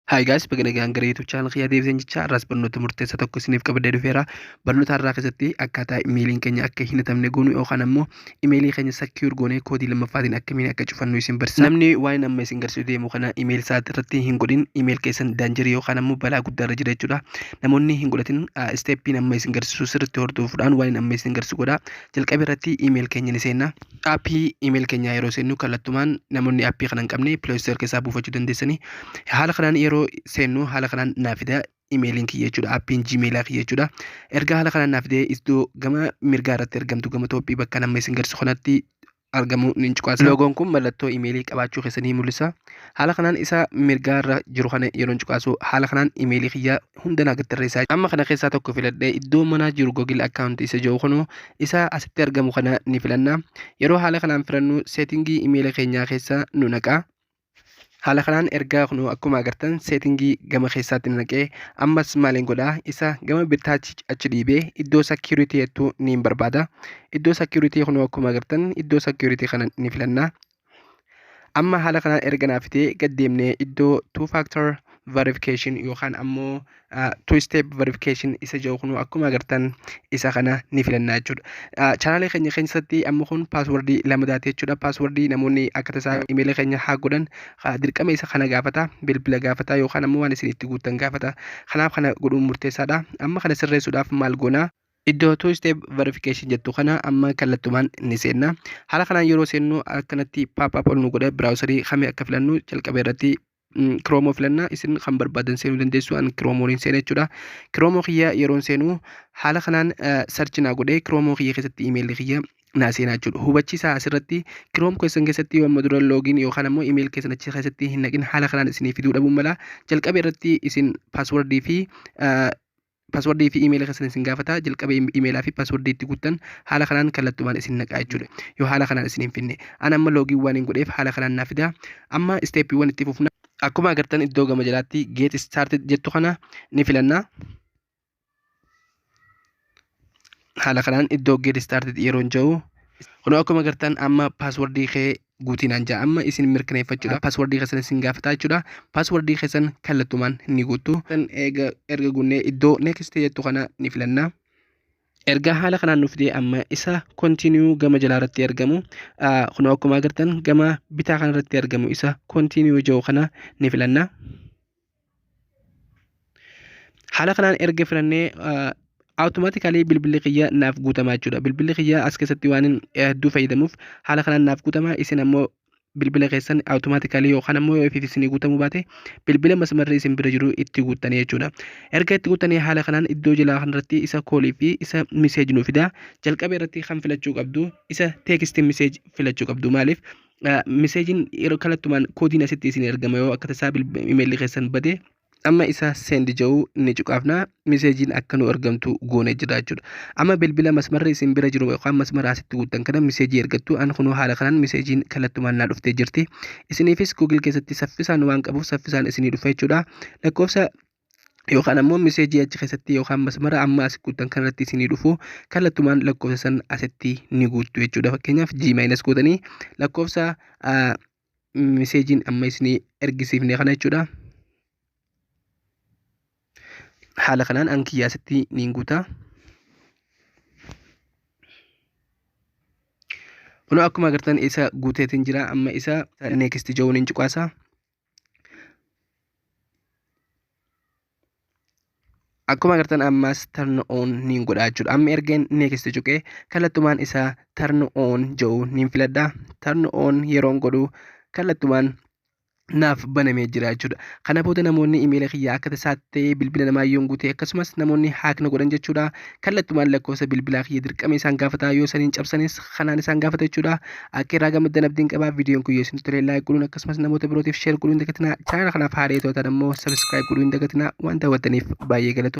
Hi guys, baga nagaan gara YouTube channel kiyyaa deebisan jecha har'aas barnoota murteessaa tokko isiniif qabadee dhufeera. Barnoota har'aa keessatti akkaataa imeeliin keenya akka hin hatamne goonu yookaan ammoo imeelii keenya secure goonee koodii lammaffaatiin akkamiin akka cufannu isin barsiisa. Namni waan amma isin garsiisu deemu kana imeelii isaa irratti hin godhin imeelii keessan daanjarii yookaan ammoo balaa guddaa irra jira jechuudha. Namoonni hin godhatin isteeppiin amma isin garsiisu sirriitti hordofuudhaan waan amma isin garsiisu godha. jalqaba irratti email keenya ni seenna. Appii email keenyaa yeroo seennu kallattumaan namoonni appii kana hin qabne Play Store keessaa buufachuu dandeessanii. Haala kanaan yeroo seennu haala kanaan naa fida emailiin kiyya jechuudha. Appiin Gmailaa kiyya jechuudha. Erga haala kanaan naa fidee iddoo gama mirgaa irratti argamtu gama toophii bakka nama isin garsiisu kanatti argamu ni cuqaasa. Loogoon kun mallattoo imeelii qabaachuu keessan ni mul'isa. Haala kanaan isa mirgaa irra jiru kana yeroon cuqaasu haala kanaan imeelii kiyya hunda naa gattarreessaa. Amma kana keessaa tokko filadhee iddoo manaa jiru Google account isa jiru kunoo isa asitti argamu kana ni filanna. Yeroo haala kanaan filannu seetingii imeela keenyaa keessa nu naqaa. Haala kanaan ergaa kun akkuma agartan seetingii gama keessaatti na naqee ammas maaliin godhaa isa gama bitaatti achi dhiibee iddoo security jettu niin barbaada. Iddoo security kun akkuma agartan iddoo security kana ni filanna. Amma haala kanaan erga naaf fitee gad deemnee iddoo two factor verification yookaan ammoo two step verification isa jedhu kun akkuma agartan isa kana ni filannaa jechuudha. Chaanaalee keenya keessatti amma kun paaswordii lama daate jechuudha. Paaswordii namoonni akka tasaa imeelii keenya haa godhan dirqama isa kana gaafata bilbila gaafata yookaan ammoo waan isin itti guuttan gaafata. Kanaaf kana godhuun murteessaadha. Amma kana sirreessuudhaaf maal goonaa? Iddoo two step verification jettu kana amma kallattumaan ni seenna. Haala kanaan yeroo seennu akkanatti pop up ol nu godha browserii kami akka filannu jalqaba irratti kiroomoo filannaa isin kan barbaadan seenuu dandeessu an kiroomoon hin seene jechuudha kiroomoo kiyya yeroon seenu haala kanaan sarchi naa godhee kiroomoo kiyya keessatti imeelli kiyya naa seenaa jechuudha hubachiisaa asirratti kiroom keessan keessatti yoo amma dura loogiin yookaan ammoo imeeyil keessan achi keessatti hin naqin haala kanaan isinii fiduu dhabuun mala jalqaba irratti isin paaswordii fi Password fi email keessan isin gaafata. Jalqaba email fi password itti guuttan haala kanaan kallattumaan isin naqaa jechuudha. Yoo haala kanaan isin hin finne. An amma login waan hin godheef haala kanaan naa fida. Amma steppiiwwan itti fufna. Akkuma agartan iddoo gama jalaatti get started jettu kana ni filanna. Haala kanaan iddoo get started yeroon ja'u Kunoo akkuma agartan amma paaswordii kee guutinaan ja'a amma isin mirkaneeffachuudhaaf paaswardii keessan isin gaafataa jechuudha paaswardii keessan kallattumaan ni guuttu kan eega erga guunnee iddoo next jettu kana ni filanna erga haala kanaan nuuf fidee amma isa continue gama jalaa irratti argamu ah, kunoo akkuma agartan gama bitaa kana irratti argamu isa continue jedhu kana ni filanna Haala kanaan erga filannee awutomaatikaalii bilbilli kiyya naaf guutamaa jechuudha. Bilbilli kiyya as keessatti waan hedduu fayyadamuuf haala kanaan naaf guutamaa isin ammoo bilbila keessan awutomaatikaalii yookaan ammoo yoo ofiif isinii guutamuu baate bilbila masmarri isin bira jiru itti guuttanii jechuudha. Erga itti guuttanii haala kanaan iddoo jalaa kanarratti isa koolii fi isa miseeji nu fida. Jalqaba irratti kan filachuu qabdu isa teekisti miseeji filachuu qabdu maaliif? miseejiin yeroo kallattumaan koodiin asitti isin ergama yoo akka tasaa imeelli keessan bade amma isaa seendi ja'uu inni cuqaafna miseejiin akka nu ergamtu goonee jira jechuudha. Amma bilbila masmarri isin bira jiru yookaan masmara asitti guuttan kana miseejii ergattu an kunoo haala kanaan miseejiin kallattumaan naa dhuftee jirti. Isiniifis Google keessatti saffisaan waan qabuuf saffisaan isinii dhufa jechuudha. Lakkoofsa yookaan ammoo miseejii achi keessatti yookaan masmara amma asi guuttan kanarratti isinii dhufu kallattumaan lakkoofsa san asitti ni guuttu jechuudha. Fakkeenyaaf G maayinasi gootanii lakkoofsa miseejiin amma isinii ergisiifne kana jechuudha. Haala kanaan an kiyya asitti ni guuta. Kunoo akkuma agartan isa guuteetiin jira amma isa next jawuun hin cuqaasa. akkuma agartan ammas turn on niin godha jechuudha amma ergeen next cuqee kallattumaan isaa turn on jedhu niin filadha turn on yeroon godhu kallattumaan naaf banamee jira jechuudha kana booda namoonni imeela kiyya akka tasaatti bilbila namaa yoon guute akkasumas namoonni haakna godhan jechuudha kallattumaan lakkoofsa bilbilaa kiyya dirqama isaan gaafata yoo saniin cabsanis kanaan isaan gaafata jechuudha akka irraa gammaddan abdiin qabaa viidiyoon kun yoo isin tolee laayik godhuun akkasumas namoota birootiif sheer godhuun dagatinaa chaanala kanaaf haaree tootan ammoo sabiskiraayib godhuun dagatinaa waan daawwattaniif baay'ee galatu